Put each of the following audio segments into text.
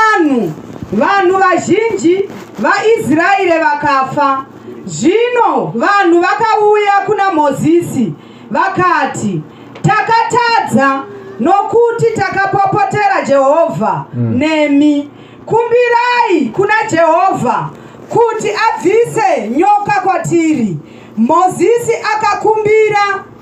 Vanhu, vanhu vazhinji vaIsraeri vakafa. Zvino vanhu vakauya kuna Mozisi vakati, Takatadza nokuti takapopotera Jehovha mm. nemi. Kumbirai kuna Jehovha kuti abvise nyoka kwatiri. Mozisi akakumbira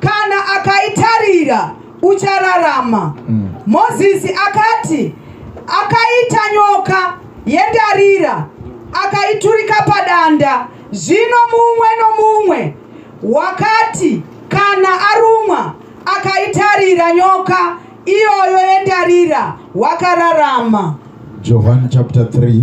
Kana akaitarira uchararama. Mm. Mozisi akati akaita nyoka yendarira akaiturika padanda. Zvino mumwe nomumwe wakati kana arumwa akaitarira nyoka iyoyo yendarira wakararama. Johani chapter 3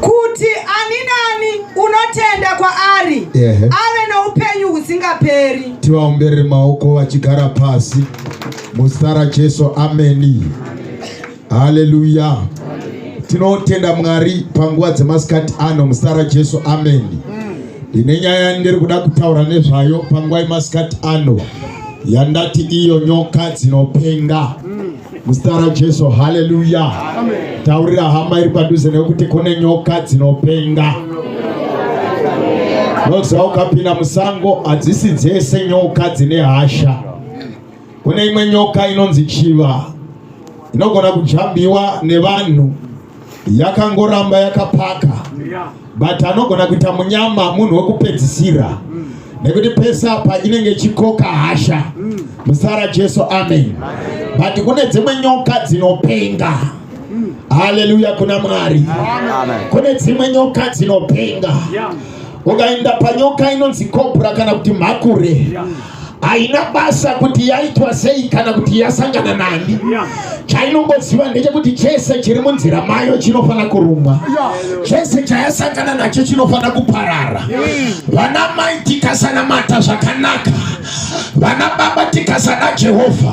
kuti ani nani unotenda kwaari yeah. ave noupenyu husingaperi. Tivaombere maoko vachigara pasi muzita raJesu, ameni. Haleluya. Tinotenda Mwari panguva dzemasikati ano muzita raJesu, ameni. Ndine nyaya ndiri kuda kutaura nezvayo panguva yemasikati ano yandati iyo nyoka dzinopenga. Muzita raJesu, haleluya. Taurira hama iri padhuze nekuti kune nyoka dzinopenga. Ndoziva ukapinda musango hadzisi dzese nyoka dzine hasha. Kune imwe nyoka inonzi chiva inogona kujambiwa nevanhu yakangoramba yakapaka but anogona kuita munyama munhu wekupedzisira mm. nekuti pese apa inenge chikoka hasha mm. musara jesu amen but kune dzimwe nyoka dzinopenga mm. haleluya kuna mwari kune dzimwe nyoka dzinopenga ukaenda panyoka inonzi kobra kana kuti mhakure haina basa kuti yaitwa sei kana kuti yasangana nani chainongoziva ndechekuti chese chiri munzira mayo chinofanira kurumwa chese chayasangana nacho chinofanira kuparara vana mai tikasanamata zvakanaka vana baba tikasana jehovha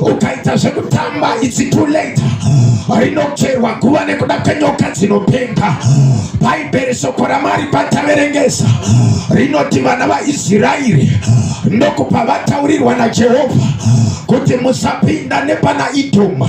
ukaita zvekutamba it's too late rinocherwa guva nekuda kwenyoka dzinopenga bhaibheri shoko ramwari pataverengesa rinoti vana vaisraeri ndokupa vataurirwa najehovha kuti musapinda nepana idhoma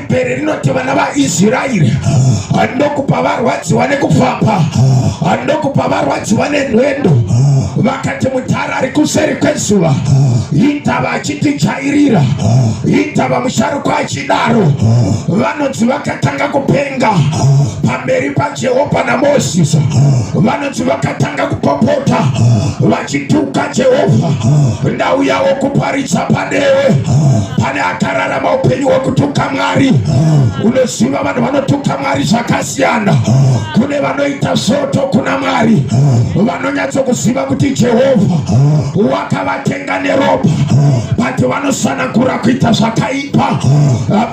Bere rinoti vana vaIsraeri ndokupa varwadziwa nekupfapa, ndokupa varwadziwa nenhwendo. Vakati mudhara ari kuseri kwezuva, indava achitijairira, indava musharukwa achidaro. Vanonzi vakatanga kupenga pamberi paJehovha naMozisi, vanonzi vakatanga kupopota Chituka Jehovha ndau yawo kuparidza panewe pane akararama upenyu hwekutuka Mwari unoziva vanhu vanotuka Mwari zvakasiyana kune vanoita svoto kuna Mwari vanonyatsokuziva kuti Jehovha wakavatenga neropa but vanosanangura kuita zvakaipa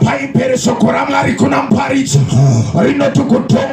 paipere shoko raMwari kuna muparidzi rinoti kutonga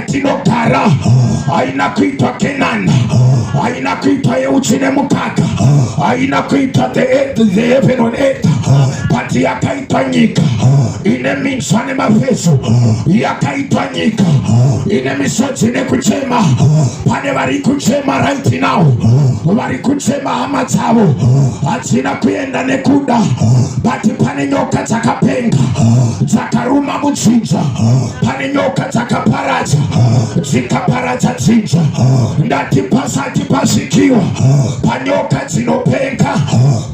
tinogara haina kuitwa kenani haina kuitwa yeuchi nemukaka haina kuitwa the heaven on earth but yakaitwa nyika ine minzwa nemafeso yakaitwa nyika ine misodzi nekuchema pane vari kuchema right now vari kuchema hama dzavo hadzina kuenda nekuda but pane nyoka dzakapenga dzakaruma mudzinza pane nyoka dzakaparadza dzikaparadza dzinza ndati pasati pasvikiwa panyoka dzinopenga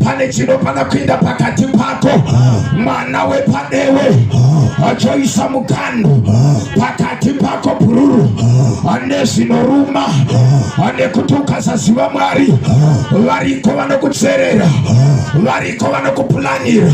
pane chinofana kuenda pakati pako mwana wepadewe achoisa mukando pakati pako bhururu ane zvinoruma ane kuti ukasaziva mwari variko vanokutserera variko vanokupulanira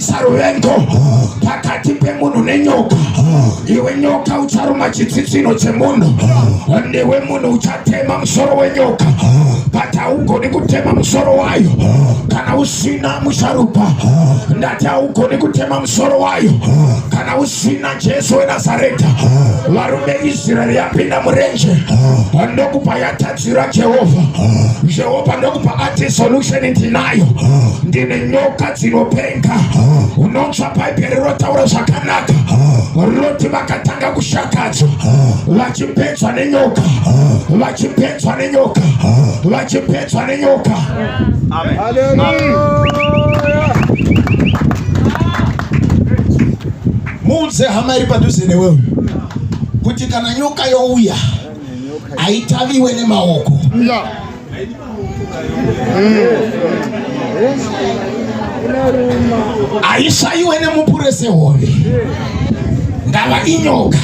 saruvendo pakati pemunhu nenyoka iwe nyoka ucharuma chitsitsino chemunhu ndiwe munhu uchatema musoro wenyoka but haugoni kutema musoro wayo kana usina musharuka ndati haugoni kutema musoro wayo kana usina jesu wenazareta varume israeri yapinda murenje ndokupa yatadza Zwi ra Jehovha, Jehovha ndokupa ati solution ndinayo, ndine nyoka dzinopenga. Unonzwa Bhaibheri rotaura zvakanaka, roti vakatanga kushakadzwa, vachipedzwa nenyoka, vachipedzwa nenyoka, vachipedzwa nenyoka. Muudze hama iri padhuze newewe kuti kana nyoka youya haitaviwe nemaoko haisvaiwe nemupure sehove ndava inyoka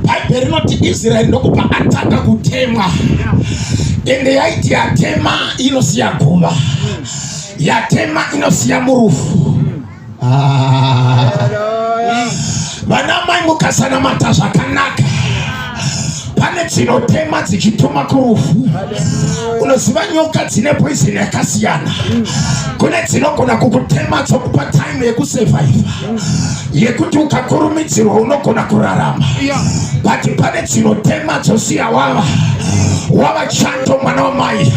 bhaibheri rinoti israeri ndokupa atanga kutemwa ende yaiti yatema inosiya guva yatema inosiya murufu Ah. Vana mai mukasanamata zvakanaka pane dzinotema dzichituma kurufu unoziva nyoka dzine poison yakasiyana kune dzinogona kukutema dzokupa time yekusevhaiva yekuti ukakurumidzirwa unogona kurarama but pane dzinotema dzosiya wava wava chando mwana wamai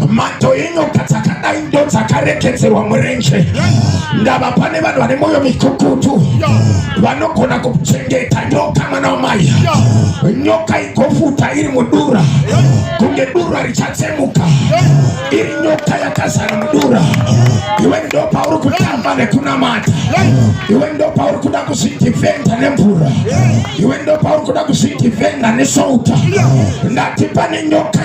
mato enyoka dzakadai ndo dzakaregedzerwa murenje ndava pane vanhu vane mwoyo mikukutu vanogona kuchengeta nyoka mwana wamai nyoka igofuta iri mudura kunge dura richatsemuka iri nyoka yakazara mudura iwe ndo pauri kutamba nekunamata iwe ndo pauri kuda kuzvidhivhenda nemvura iwe ndo pauri kuda kuzvidhivhenda nesouta ndati pane nyoka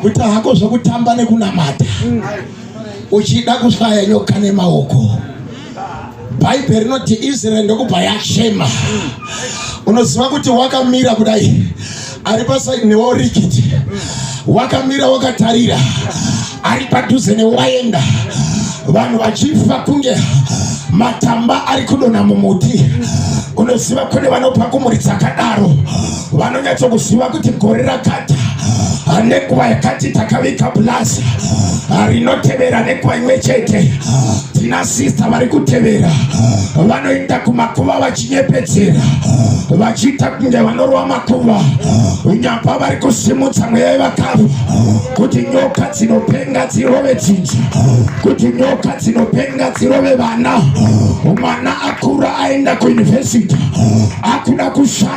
kuita hako zvekutamba nekunamata uchida kusvaya nyoka nemaoko bhaibheri rinoti israeri ndokubva yachema unoziva kuti wakamira kudai ari pasaidi neworikiti wakamira wakatarira ari padhuze newaenda vanhu vachifa kunge matamba ari kudonha mumuti unoziva kune vanopa kumuri dzakadaro vanonyatsokuziva kuti gore rakati nenguva yakati takavika pulazi rinotevera nenguva imwe chete tina sista vari kutevera vanoenda kumakuva vachinyepedzera vachiita kunge vanorova makuva unyapa vari kusimudza mweya yevakafa kuti nyoka dzinopenga dzirove dzinza kuti nyoka dzinopenga dzirove vana mwana akura aenda kuyunivhesiti akuda kushanda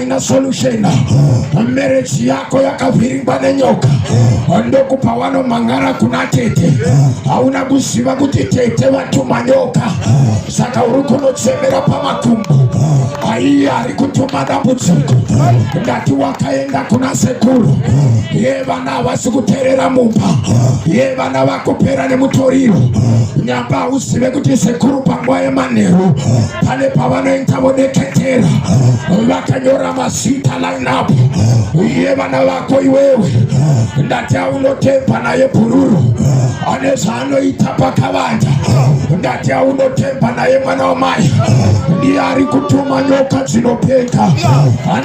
Ina solution marriage yako yakavhiringwa nenyoka ndokupa wano mangara kuna tete hauna kuziva kuti tete vatuma nyoka saka uri kunotsemera pamakumbo aiye ari kutuma dambudziko ndati wakaenda kuna sekuru yeva havasi kuterera mumba ye vana vakupera nemutoriro nyamba hauzive kuti sekuru panguva yemanheru pane pavanoita vodeketera vakanyora mazita lineup ye vana vako iwewe ndati aunotemba naye bhururu ane zvaanoita pakavanda ndati aunotemba naye mwana wamai ndiye ari kutuma nyoka dzinopenga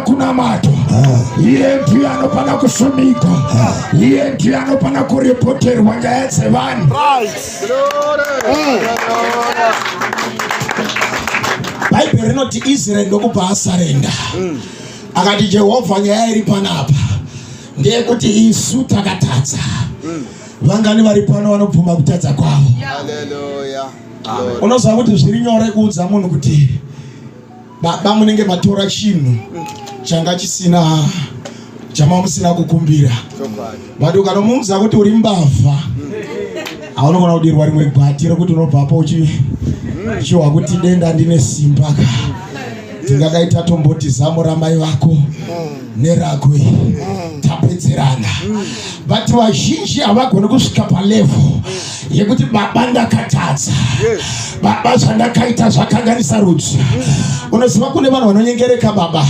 kunamata iye ndiye anofana kusumika iye ndiye anofana kuripoterwa nyaya dzevanhu bhaibheri rinoti israeri ndokubva asarenda mm. akati jehovha nyaya iri panapa ndeyekuti isu takatadza mm. vangani vari pano vanobvuma kutadza kwavo unoziva kuti zviri nyore kuudza munhu kuti Baba munenge matora chinhu changa chisina chamamusina kukumbira but ukanomuudza kuti uri mbavha haunogona kudirwa rimwe gwati rekuti unobvapo uchiwa kuti denda ndine simba ka tingadaita tomboti zamu ramai vako neragwe tapedzerana vati vazhinji havagoni kusvika palevo yekuti baba ndakatadza baba zvandakaita zvakanganisa rudzi unoziva kune vanhu vanonyengereka baba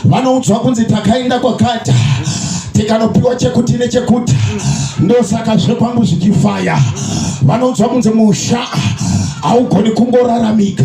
vanoudzwa kunzi takaenda kwakata tikanopiwa chekuti nechekuti ndosaka zvekwangu zvichifaya vanoudzwa kunzi musha haugoni kungoraramika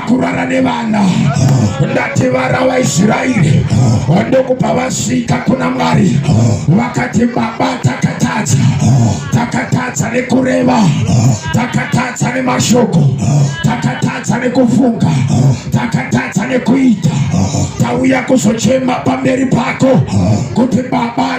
kurara nevana ndati vara vaisraeri ndokupa vasvika kuna mwari vakati baba takatadza takatadza nekureva takatadza nemashoko takatadza nekufunga takatadza nekuita tauya kuzochema pamberi pako kuti baba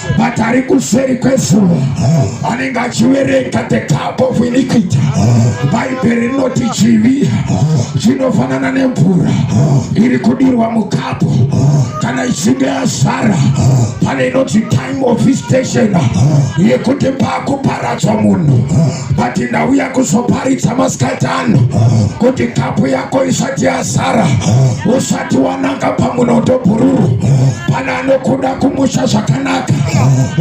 but ari kuseri kwezuva anenge achiverenga the cup of iniquity bhaibheri rinoti chivi chinofanana nemvura iri kudirwa mukapu kana ichinge yazara pane inoti time of visitation yekuti pakuparadzwa munhu vati ndauya kuzoparidza masikati ano kuti kapu yako isati yazara usati wananga pamunondo bhururu pana anokuda kumusha zvakanaka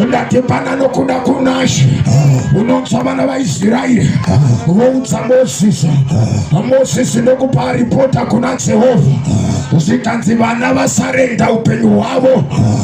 ndati pana anokuda kunashe unonzwa vana vaisraeri voudza mosisi mosisi ndokupa ripota kuna jehovha zvikanzi vana vasarenda upenyu hwavo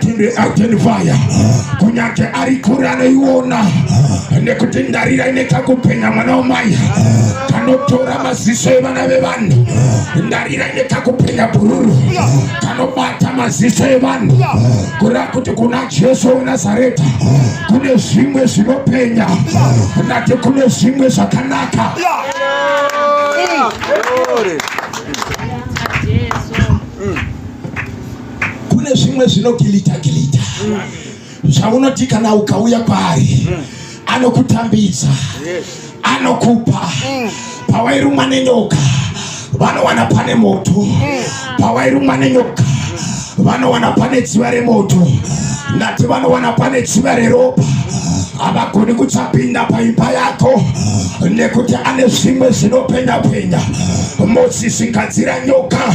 Identify kunyange ari kure anoiona nekuti ndarira ine kakupenya mwana wamai kanotora maziso evana vevanhu ndarira ine kakupenya bhururu kanobata maziso evanhu kureva kuti kuna jesu wenazareta kune zvimwe zvinopenya ndati kune zvimwe zvakanaka kune zvimwe zvinogilita gilita zvaunoti kana ukauya kwaari anokutambidza anokupa pawairumwa nenyoka vanowana pane moto pawairumwa nenyoka vanowana pane dziva remoto ndati vanowana pane dziva reropa havagoni kuchapinda paimba yako nekuti ane zvimwe zvinopenya penya mosisi ngadzira nyoka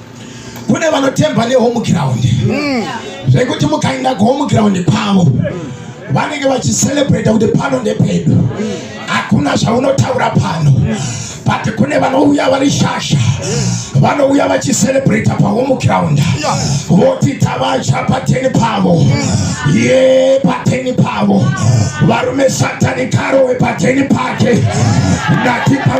kune vanotemba nehome ground mm. zvekuti mukaenda kuhome ground kwavo vanenge vachiselebrate kuti pano ndepedu hakuna zvaunotaura pano but kune vanouya vari shasha vanouya vachiselebrata pahome ground voti tavacha pateni pavo ye pateni pavo varume satani karowe pateni pake ndatipa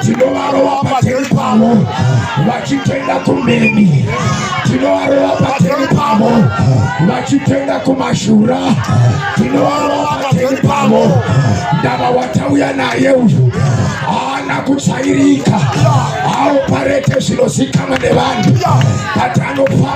tinovarova pageri pavo vachitenda kumeni tinovarova pageri pavo vachitenda kumashura tinovarova pageri pavo ndava watauya naye uyu haana kutsvairika aoparete zvinozikamwa nevanhu but anofa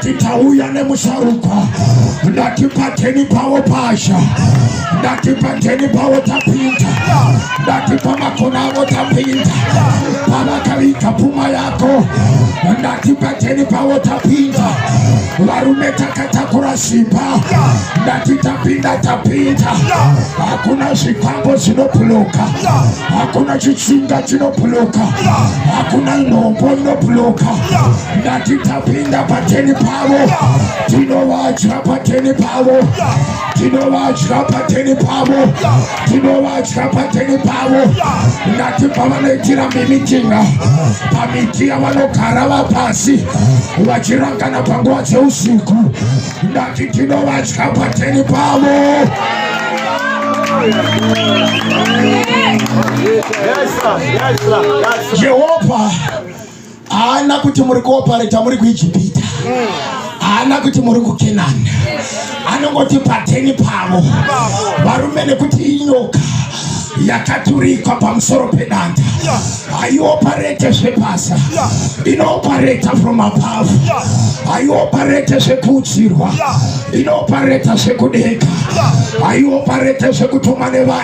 Titauya nemusharukwa ndati pateni pavo pasha ndati pateni pavo tapinda ndati pamakona avo tapinda pavakaviga pfuma yako ndati pateni pavo tapinda varume takatakura simba ndati tapinda tapinda hakuna zvikwambo zvinobhuloka hakuna chitsinga chinobhuloka hakuna nhombo inobhuloka ndati tapinda pateni pavo tinovadya pateni pavo tinovadya pateni pavo tinovadya pateni pavo ndati pavanoitira mimitinga pamiti yavanogara vapasi vachirangana panguva dzeusiku ndati tinovadya pateni pavo Yes, sir. Yes, sir. Yes, sir. Jehovah haana kuti muri kuopareta muri kuijipita haana kuti muri kukenani anongoti pateni pavo varume nekuti inyoka yakaturikwa pamusoro pedanda haioparete zvebasa inoopareta from above haioparete zvekuudzirwa inoopareta zvekudeka haioparete zvekutumwa nevanhu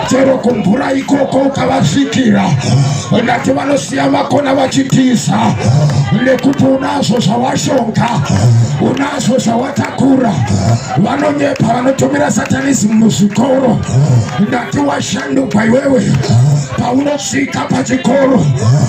chero kumvura ikoko ukavasvikira ndati vanosiya vakona vachitiza nekuti unazvo zvawashonga unazvo zvawatakura vanonyepa vanotumira satanism muzvikoro ndati washandukwa iwewe paunosvika pachikoro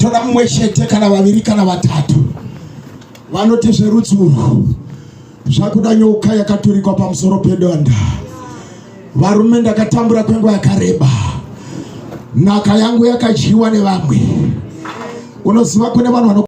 tora mumwe chete kana vaviri kana vatatu vanoti zverudzi urwu zvakuda nyoka yakaturikwa pamusoro pedonda varume ndakatambura kwenguva yakareba nhaka yangu yakadyiwa nevamwe unoziva kune vanhu